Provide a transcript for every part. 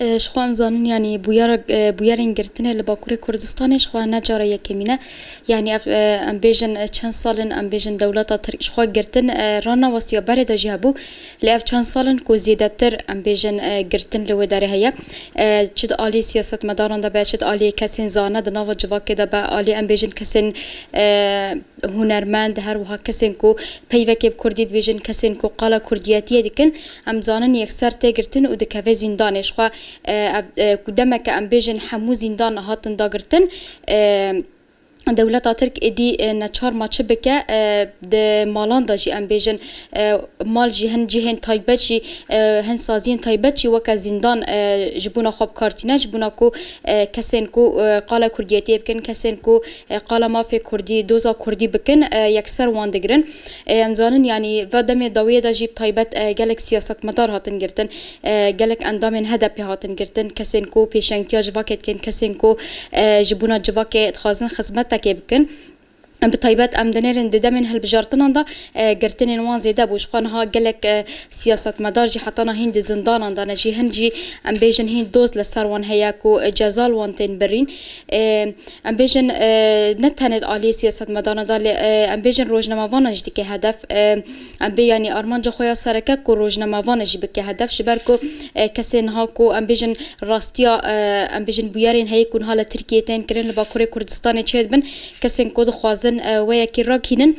Ji xwe em zanin yanî bûyera bûyerên girtinê li Bakurê Kurdistanê ji xwe ne cara yekemîn e. Yanî ev em bêjin çend sal in em bêjin dewleta Tirk ji xwe girtin ranawastiya berê de jî hebû lê ev çend sal in ku zêdetir em bêjin girtin li wê derê heye. Çi di aliyê siyasetmedaran de be çi di aliyê kesên zana di nava civakê de be aliyê em bêjin kesên hunermend her wiha kesên ku peyvekê bi Kurdî dibêjin kesên ku qala Kurdiyetiyê dikin Em dizanin yekser tê girtin û dikeve zîndanê. Ji xwe ev ku demeke em bêjin hemû zîndan hatin dagirtin, dewleta Tirk êdî neçar ma çi bike. Di malan de jî em bêjin mal jî hin cihên taybet jî hin saziyên taybet jî weke zîndan ji bona xwe bikar tîne. Ji bona ku kesên ku qala kurdiyetiyê bikin, kesên ku qala mafê kurdî, doza kurdî bikin yekser wan digirin. Ê em zanin yanî va demê dawiyê de jî bi taybet gelek siyasetmedar hatin girtin, gelek endamên HDP'ê hatin girtin, kesên ku pêşengtiya civakê dikin, kesên ku ji bûna civakê dixwazin xizmetekê bikin. Bi taybet em dinêrin di demên hilbijartinan de girtinên wan zêde bû. Jixwe niha gelek siyasetmedar jî heta na hîn di zindanan de ne jî hin jî em bêjin hîn doz li ser wan heye ku ceza li wan tên birîn. Ê Em bêjin ne tenê li aliyê siyasetmedaran de lê em bêjin rojnamavanan jî dike hedef. Em bê yanî armanca xwe ya sereke ku rojnamavanan jî bike hedef ji ber ku kesê niha ku em bêjin rastiya em bêjin bûyerên heye ku niha li Tirkiyeyê tên kirin li Bakurê Kurdistanê çêdibin kesên ku dixwazin wê yekî rakînin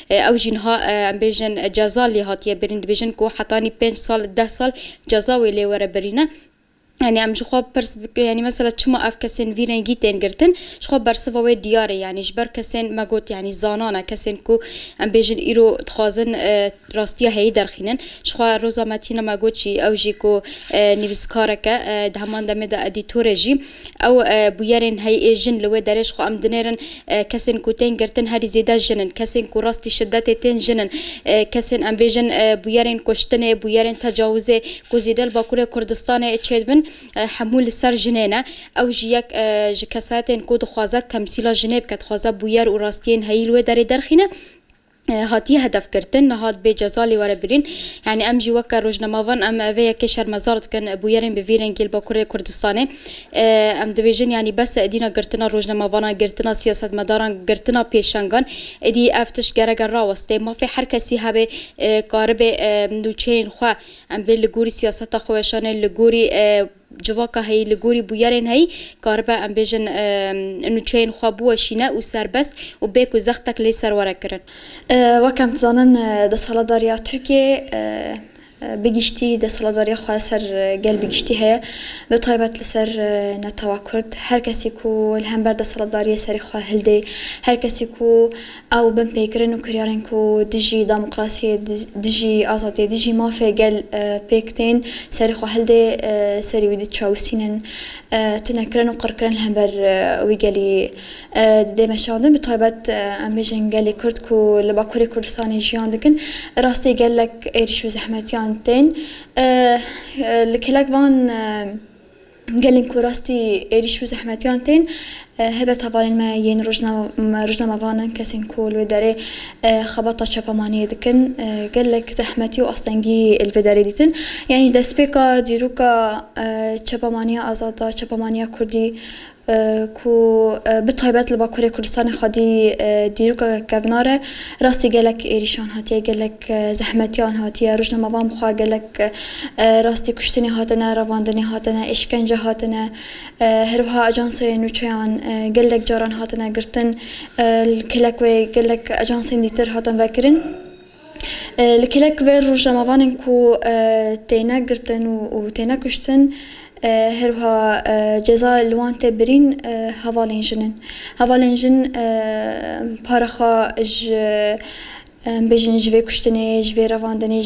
Ew jî niha em bêjin ceza lê hatiye birîn, dibêjin ku hetanî pênc sal, deh sal ceza wê lê were birîne. Yanî em ji xwe pirs bikin yanî mesela çima ev kesên vî rengî tên girtin? Ji xwe bersiva wê diyar e yanî ji ber kesên me got yanî zanan e, kesên ku em bêjin îro dixwazin rastiya heyî derxînin. Ji xwe roza me tîne me got jî ew jî ku nivîskarek e, di heman demê de edîtor e jî. Ew bûyerên heyî ê jin li wê derê ji xwe em dinêrin, kesên ku tên girtin herî zêde jin in, kesên ku rastî şidetê tên jin in, kesên em bêjin bûyerên kuştinê, bûyerên tecawizê ku zêde li Bakurê Kurdistanê çêdibin hemû li ser jinê ne. Ew jî yek ji kesayetên ku dixwaze temsîla jinê bike, dixwaze bûyer û rastiyên heyî li wê derê derxîne. hatiye hedef girtin, niha dibe ceza lê were birîn. Yanî em jî weke rojnemavan em vê yekê şermezar dikin. Bûyerên bi vî rengî li Bakurê Kurdistanê em dibêjin yanî bes e êdîna girtina rojnemavanan, girtina siyasetmedaran, girtina pêşengan. Êdî ev tişt gereke rawestê. Mafê her kesî hebe karibe nûçeyên xwe em bê li gorî siyaseta xwe weşanê, li gorî Civaka heyî li gorî bûyerên heyî karibe em bêjin nûçeyên xwe biweşîne û serbest û bê ku zextek lê ser were kirin. Wek em dizanin desthilatdariya Tirkiyeyê bi giştî desthilatdariya xwe li ser gel bi giştî heye, bi taybet li ser netewa Kurd. Her kesî ku li hember desthilatdariyê serê xwe hildê, her kesî ku Ew binpêkirin û kiryarên ku dijî demokrasiyê, dijî azadiyê, dijî mafê gel pêk tên, serê xwe hildê, serî wî diçawisînin, tunekirin û qirkirin li hember wî gelî didê meşandin. Bi taybet em bêjin gelê Kurd ku li Bakurê Kurdistanê jiyan dikin, bi rastî gelek êrîş û zehmetiyan tên. Li kelek van. Gelên ku rastî êrîş û zehmetiyan tên, helbet hevalên me yên rojnamevan in, kesên ku li wê derê xebata çapamaniyê dikin gelek zehmetî û astengî li vê derê dîtin. Yanî destpêka dîroka çapamaniya azad a, çapamaniya kurdî ku bi taybet li Bakurê Kurdistanê xwedî dîrokeke kevnar e, rastî gelek êrîşan hatiye, gelek Ke zehmetiya wan hatiye rojnamevan bi xwe gelek rastî kuştinê hatine revandinê hatine îşkence hatine herwiha ajanseyê nûçeyan gelek caran hatine girtin li kelek wê gelek ajansên dîtir hatin vekirin li kelek wê rojnamevanên ku têne girtin û têne kuştin herwiha ceza li wan tê birîn hevalên jin in hevalên jin para xwe ji Em bêjin ji vê kuştinê, ji vê revandinê,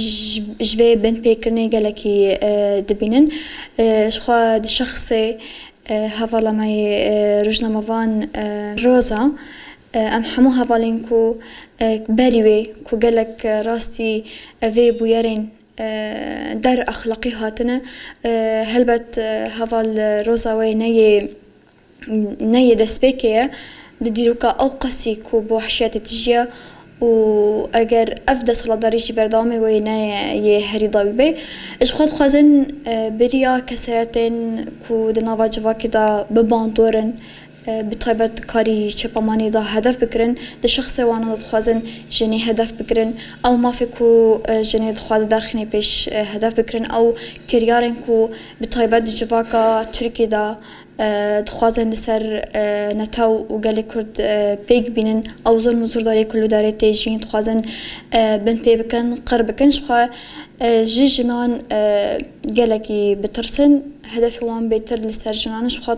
ji vê binpêkirinê gelekî dibînin. Jixwe di şexsê hevala me yê rojnamevan Roza em hemû hevalên ku berî wê ku gelek rastî vê bûyerên der exlaqî hatine helbet heval Roza wê ne yê ne yê destpêkê ye di dîroka ewqasî ku bi wehşiyetê tijîye û eger ev desthilatdarî jî berdewamê wê ne yê herî dawî bê. Ji xwe dixwazin bêriya kesayetên ku di nava civakê de bi bandor in bi taybet karî çepemanî de hedef bikirin, di şexsê wan de dixwazin jinê hedef bikirin, ew mafê ku jinê dixwaze derxîne pêş hedef bikirin, ew kiryarên ku bi taybet di civaka Tirkiyê de Dixwazin li ser netew û gelê Kurd pêk bînin. Ew zilm û zurdariyê ku li darê tê jîn dixwazin bin pê bikin, qir bikin. Jixwe ji jinan gelekî bitirsin. Hedefê wan bêtir li ser jinan in. Jixwe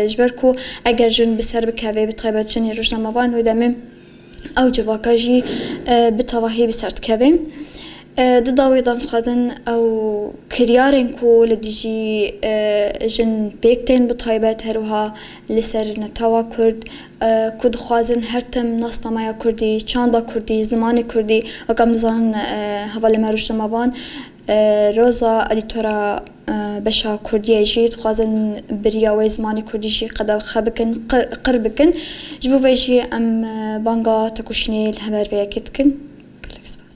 ji ber ku eger jin bi ser bikeve bi taybet jinê rojnamevan wê demê. ew civaka jî bi tevahî bi ser dikeve. Di dawê de dixwazin ew kiryarên ku li dijî jin pêk tên bi taybet her wiha li ser netewa kurd ku dixwazin her tim nasnameya kurdî, çanda kurdî, zimanê kurdî wek em dizanin hevalên me rojnamevan Roza edîtora beşa kurdiyê jî dixwazin biriya wê zimanê kurdî jî qedexwe bikin, qir bikin. Ji bo vê jî em banga tekoşînê li hember vê yekê dikin. Gelek spas.